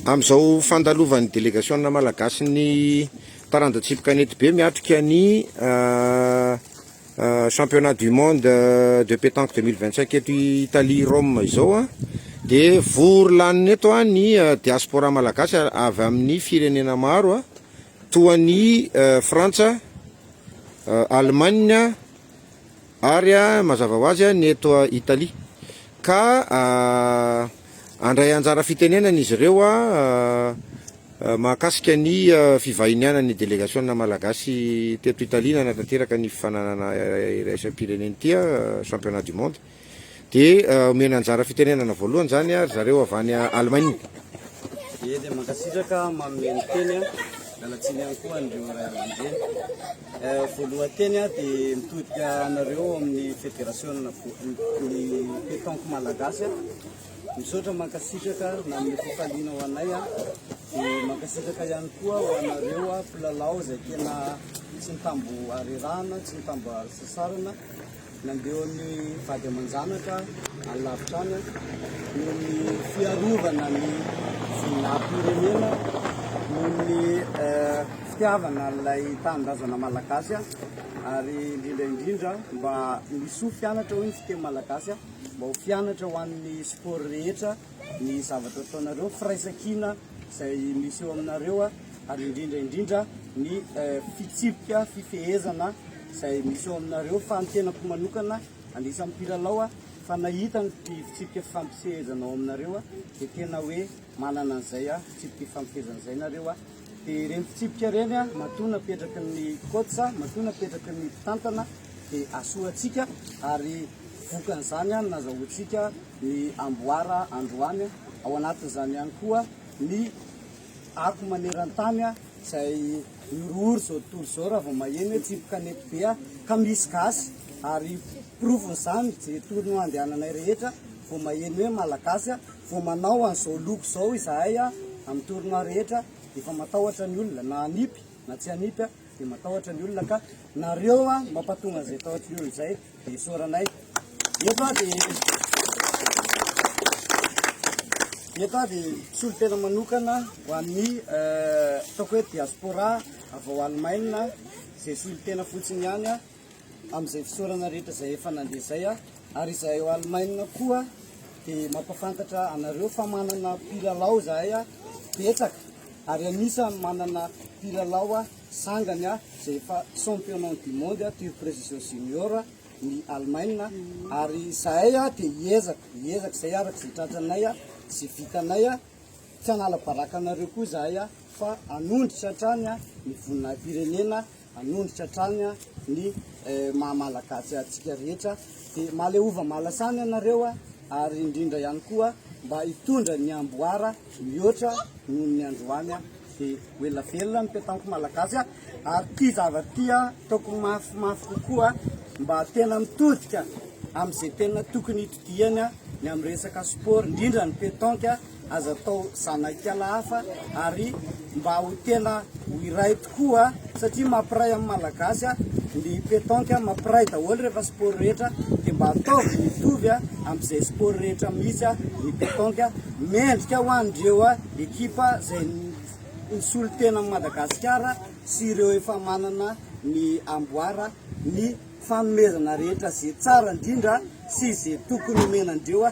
Amin'izao fandalovan'ny delegasiona malagasy ny taranja tsipy kanety be miatrika ny championnat du monde de pétanque 2025 eto Italie Rome izao a dia vory lanina eto a ny diaspora malagasy avy amin'ny firenena maro a toa ny Frantsa, Allemagne, Ary mazava ho azy ny eto Italia. Ka handray anjara fitenenana izy ireo mahakasika ny fivahinianan'ny delegasiona malagasy teto Italia nanatanteraka ny fifaninanana iraisam-pirenena ity, Championnat du Monde. Dia omena anjara fitenenana voalohany izany ry zareo avy any Allemagne. Ie dia mankasitraka manome ny teny an. Miala tsiny ihany koa an'ireo ray aman-dreny. Voalohan-teny aho dia mitodika anareo ao amin'ny federasiona ny pétanque malagasy an. Misaotra mankasitraka nanome fifaliana ho anay an. Dia mankasitraka ihany koa ho anareo an mpilalao izay tena tsy nitambo harerahana, tsy nitambo hasasarana. Nandeha ho an'ny vady aman-janaka any lavitra any noho ny fiarovana ny zon'arm-pirenena, noho ny fitiavana an'ilay tanindrazana malagasy ary indrindra indrindra mba misy ho fianatra hoy ny fiteny malagasy mba ho fianatra ho an'ny sport rehetra. ny zavatra ataonareo, firaisankina izay misy eo aminareo ary indrindra indrindra ny fitsipika fifehezana izay misy eo aminareo fa ny tenako manokana anisan'ny mpilalao fa nahita ny fitsipika fifampifehezana ao aminareo dia tena hoe manana an'izay fitsipika fifampifehezana izay nareo Dia ireny fitsipika ireny matoa napetraky ny coach, matoa napetraky ny mpitantana dia asoantsika ary vokan'izany no nazahoantsika ny amboara androany, ao anatin'izany ihany koa ny ako maneran-tany izay mihorohoro izao tontolo izao raha vao maheno hoe tsipy kanety be ka misy gasy ary porofon'izany izay tournoi andehananay rehetra vao maheno hoe malagasy. Vao manao an'izao loko izao izahay amin'ny tournoi rehetra efa matahotra ny olona na hanipy na tsy hanipy dia matahotra ny olona ka nareo mampatonga an'izay tahotry ny olona izay dia isaoranay eto aho dia eto aho dia solo tena manokana ho an'ny ataoko hoe diaspora avy ao Alemaina izay solo tena fotsiny ihany amin'izay fisaorana rehetra izay efa nandeha izay aho, ary izahay ao Alemaina koa dia mampafantatra anareo fa manana mpilalao izahay betsaka, ary anisany manana mpilalao sangany izay efa championnat du monde toy Precision Junior ny Alemaina, ary izahay dia hiezaka hiezaka izay araka izay tratranay sy vitanay, tsy hanala baraka anareo koa izahay fa hanondrotra hatrany ny voninahim-pirenena. hanondrotra hatrany ny maha Malagasy antsika rehetra dia maleova malasana ianareo ary indrindra ihany koa mba hitondra ny amboara mihoatra noho ny androany dia ho ela velona ny petanque Malagasy ary ity zavatra ity ataoko mafy mafy kokoa mba tena mitodika amin'izay tena tokony hitodihany ny amin'ny resaka sport indrindra ny petanque Aza atao zanak'ala hafa ary mba ho tena ho iray tokoa satria mampiray amin'ny Malagasy ny pétanque, mampiray daholo rehefa sport rehetra dia mba ataovy mitovy amin'izay sport rehetra mihitsy ny pétanque. Mendrika ho an'ireo ekipa izay nisolo tena an'i Madagasikara sy ireo efa manana ny amboara ny fanomezana rehetra izay tsara indrindra sy izay tokony omena an'ireo.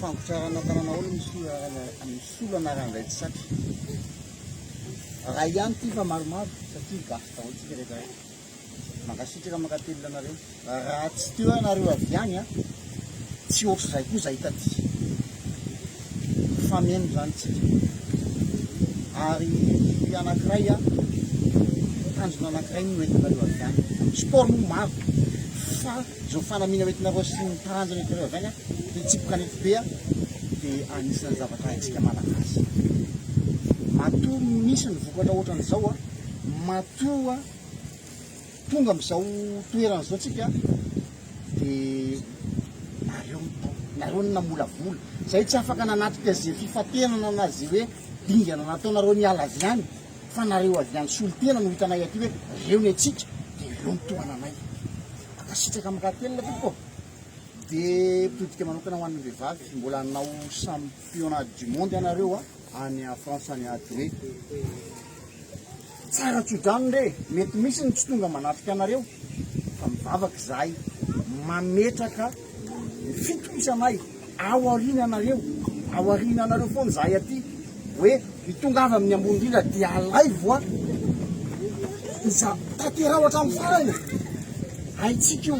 Fampitrarana tananao ny solana ny solana raha indray tsy saky. Raha ihany ity fa maromaro satria gasy daholo tsika rehetra rehetra. Mankasitraka mankatelina anareo. Raha tsy teo ianareo avy any a, tsy ohatr'izay koa izay taty. fameno izany tsika ary ny anankiray a tanjona anankiray no entinareo avy any sport moa maro fa zao fanamiana entinareo sy ny taranja entinareo avy any a de tsipoka nety be a de anisan'ny zavatra haintsika malagasy matoa misy ny vokatra ohatran'izao a matoa Tonga amin'izao toerana izao tsika dia nareo no tao, nareo no namolavola. Izay tsy afaka nanatrika izay fifantenana na izay hoe dingana nataonareo niala avy any fa nareo avy any solontena no hitanay aty hoe reo ny antsika dia reo ny tohananay. Mankasitraka Amakatelina tompoko. Dia todika manokana ho an'ny vehivavy izy mbola hanao championnat du monde ianareo any France any Adoe. Tsara tsodrano re, mety misy ny tsy tonga manatrika anareo fa mivavaka izahay mametraka ny fitokisanay ao aoriananareo, ao aoriananareo foana izahay aty hoe mitongava amin'ny ambony indrindra dia alaivo a! iza tanteraho hatramin'ny farany e! haintsika io,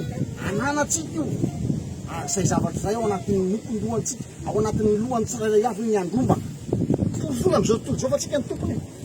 ananatsika io ary izay zavatra izay ao anatin'ny nofon-dohantsika, ao anatin'ny lohan'ny tsirairay avy io ny handrombaka, torofola amin'izao tontolo izao fa tsika ny tompony e!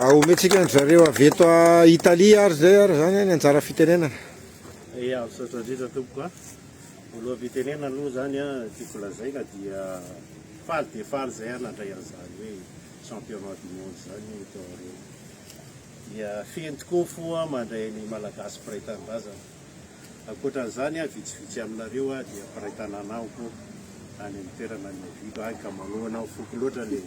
Aomentsika an-dry zareo avy eto Italia ary izay ary izany ny anjara fitenenana. Ia, misaotra indrindra tompoko a! Voaloham-pitenenana aloha izany a, tiako lazaina dia faly dia faly izay aho nandray an'izany hoe championnat du monde izany teo aoriana. Dia feno tokoa ny fo aho mandray ny Malagasy mpiray tanindrazana. Ankoatra an'izany, vitsivitsy aminareo dia mpiray tanàna amiko any amin'ny toerana niaviako any ka manohana ny foko loatra ilay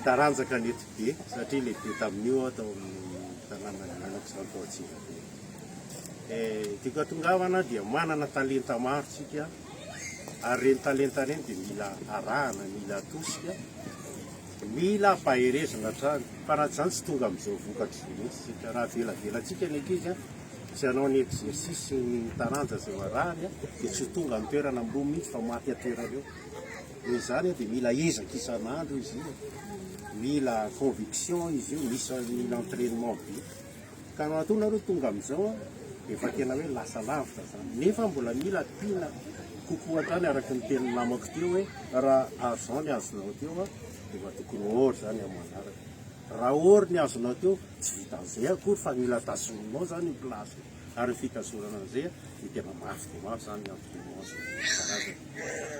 taranjaka nety be satria lehibe tamin'io aho tao amin'ny tanàna niainako izany tao Antsirabe. Eh, tiako atongavana dia manana talenta maro tsika ary ireny talenta ireny dia mila arahana, mila atosika. Mila faherezana hatrany, fa raha tsy izany tsy tonga amin'izao vokatra izao mihitsy isika. Raha avelabelantsika ny ankizy tsy hanao ny exercice ny taranja izay varahany dia tsy ho tonga amin'ny toerana ambony mihitsy fa maty an-toerana eo. Noho izany dia mila ezaka isan'andro izy io, mila conviction izy io, mila entraînement be. Ka matoa nareo tonga amin'izao an, efa tena hoe lasa lavitra izany. Nefa mbola mila tiana kokoa hatrany araka ny tenin'ny namako teo hoe raha argent ny azonao teo an, dia efa tokony or izany amin'ny manaraka. Raha or ny azonao teo, tsy vitan'izay akory fa mila tazoninao izany io place io. Ary io fitazonana an'izay an, dia tena mafy dia mafy izany ny imprimante karazany.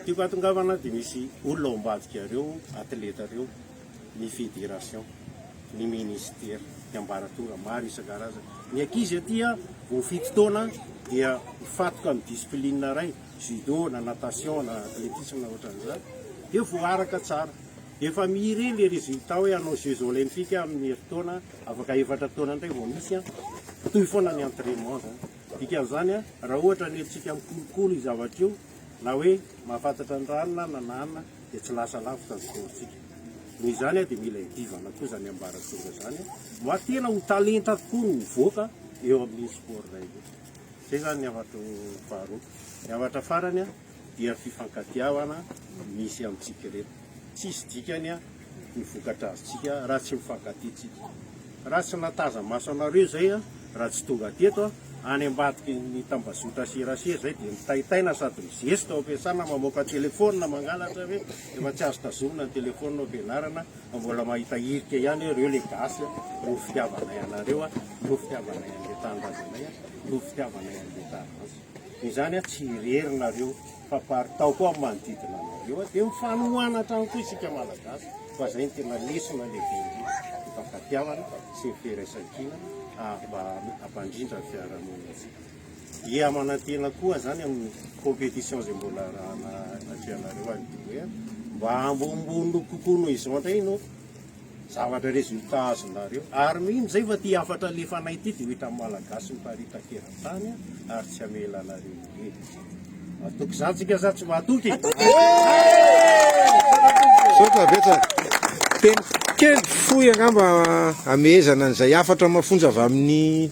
Tiako hahatongavana dia misy olona ao ambadikareo atletareo ny fédération, ny ministère, ny ambaratonga maro isan-karazany. Ny ankizy aty vao fito taona dia mifatoka amin'ny discipline iray, judo na natation na athlétisme na ohatran'izany, dia voaraka tsara. Efa mire le résultat hoe hanao jeux olympiques amin'ny herintaona, afaka efatra taona indray vao misy, mitohy foana ny entrainement zany. Dikan'izany raha ohatra ny antsika mikolokolo io zavatra io na hoe mahafantatra ny rano na na na. dia tsy lasa lavitra ny sport-tsika. Noho izany dia mila iadivana koa izany ambaratonga izany mba tena ho talenta tokoa no hovoaka eo amin'iny sport-nay iny. Izay izany ny hafatro faharoa. Ny hafatra farany dia fifankatiavana misy amintsika ireto. Tsisy dikany ny vokatra azontsika raha tsy mifankatia tsika. Raha tsy nataza maso anareo izay an, raha tsy tonga teto an, any ambadiky ny tambazotra serasera izay dia mitaitaina sady mizesta ao am-piasana mamoaka telefaonina mangalatra ve? Efa tsy azo tazomina ny telefaonina ao am-pianarana fa mbola mahita hirika ihany hoe reo le gasy an, noho ny fitiavanay anareo an, noho ny fitiavanay an'le tanindrazanay an, noho ny fitiavanay an'le taranja. Izany an, tsy irery nareo. Famparitao koa amin'ny manodidina anareo dia mifanohana hatrany koa isika Malagasy fa izay no tena lesona lehibe indrindra, ny fankatiavana sy ny firaisan-kina mba hampandrindra ny fiarahamonintsika. Dia manantena koa izany amin'ny compétition izay mbola arahana atrehanareo any Douai mba ambonimbony kokoa noho izao indray no Zavatra resultat azonareo. Ary mino zay fa ty hafatra alefanay ty dia ho hitan'ny Malagasy miparitaka eran-tany ary tsy hamela anareo intsony. Matoky zany tsika sa tsy matoky? Matoky! Teny kely fohy angamba hamehezana an'izay hafatra mafonja avy amin'ny.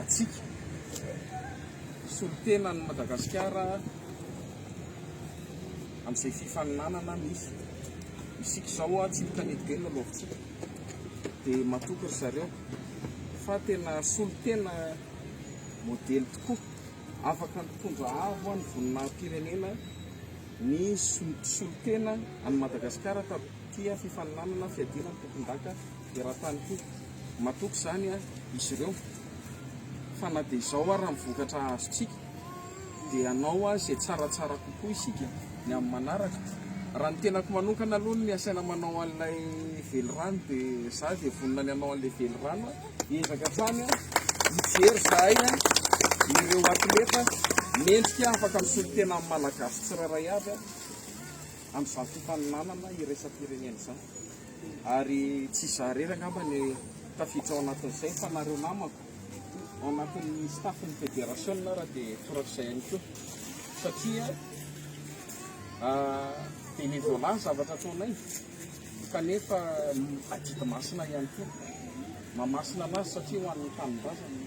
antsika solontenan'i Madagasikara amin'izay fifaninanana misy. Isika izao tsy mitanety be ny lalaovintsika dia matoky ry zareo fa tena solontena modely tokoa. Afaka nitondra avo ny voninahim-pirenena ny solontena an'i Madagasikara tamin'ity fifaninanana fiadiana ny tompondaka. Eran-tany koa. Matoky izany izy ireo. Fa na dia izao ary ny vokatra azontsika, dia hanao izay tsaratsara kokoa isika ny amin'ny manaraka. Raha ny tenako manokana aloha ny asaina manao an'ilay velirano dia izaho dia vonona ny hanao an'ilay velirano aho. Hiezaka hatrany aho hijery izahay ireo atleta mendrika afaka misolo-tena amin'ny Malagasy tsirairay avy amin'izany fifaninanana iraisam-pirenena izany. Ary tsy izaho irery angamba no tafiditra ao anatin'izay fa nareo namako ao anatin'ny staff-n'ny federasiona ary dia torak'izay ihany koa satria bénévolat ny zavatra ataonay kanefa adidy masina ihany koa. Mamasina anazy satria ho an'ny tanindrazana.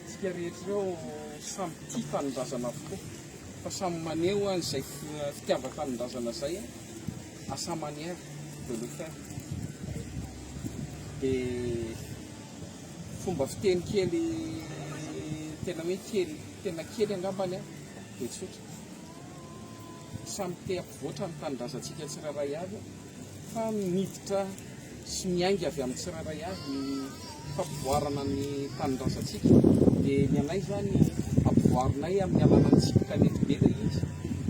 Tsika rehetra ireo samy tia tanindrazana avokoa fa samy maneho izay fitiavan-tanindrazana izay. à sa manière de le faire dia fomba fiteny kely tena hoe kely tena kely angambany an dia tsotra samy te hampivoatra ny tanindrazantsika tsirairay avy fa miditra sy miainga avy amin'ny tsirairay avy ny fampivoarana ny tanindrazantsika dia ny anay izany ampivoarinay amin'ny alalan'ny tsipy kanety be ilay izy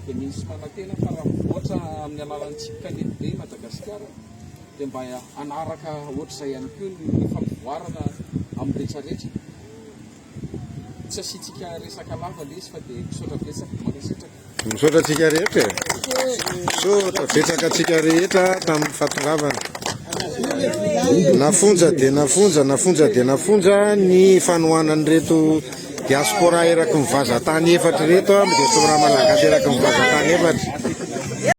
dia misy manantena fa raha mivoatra amin'ny alalan'ny tsipy kanety be i Madagasikara dia mba hanaraka ohatr'izay ihany koa ny fampivoarana amin'ny rehetrarehetra Tsy asiantsika resaka lava lesy fa dia misaotra betsaka ny resetraka. Misaotra antsika rehetra e. Misaotra betsaka antsika rehetra tamin'ny fatongavana. Nafonja dia nafonja, nafonja dia nafonja ny fanohanan'ireto diaspora eraky ny vazatany efatra ireto, amin'ny diaspora malagasy eraky ny vazatany efatra.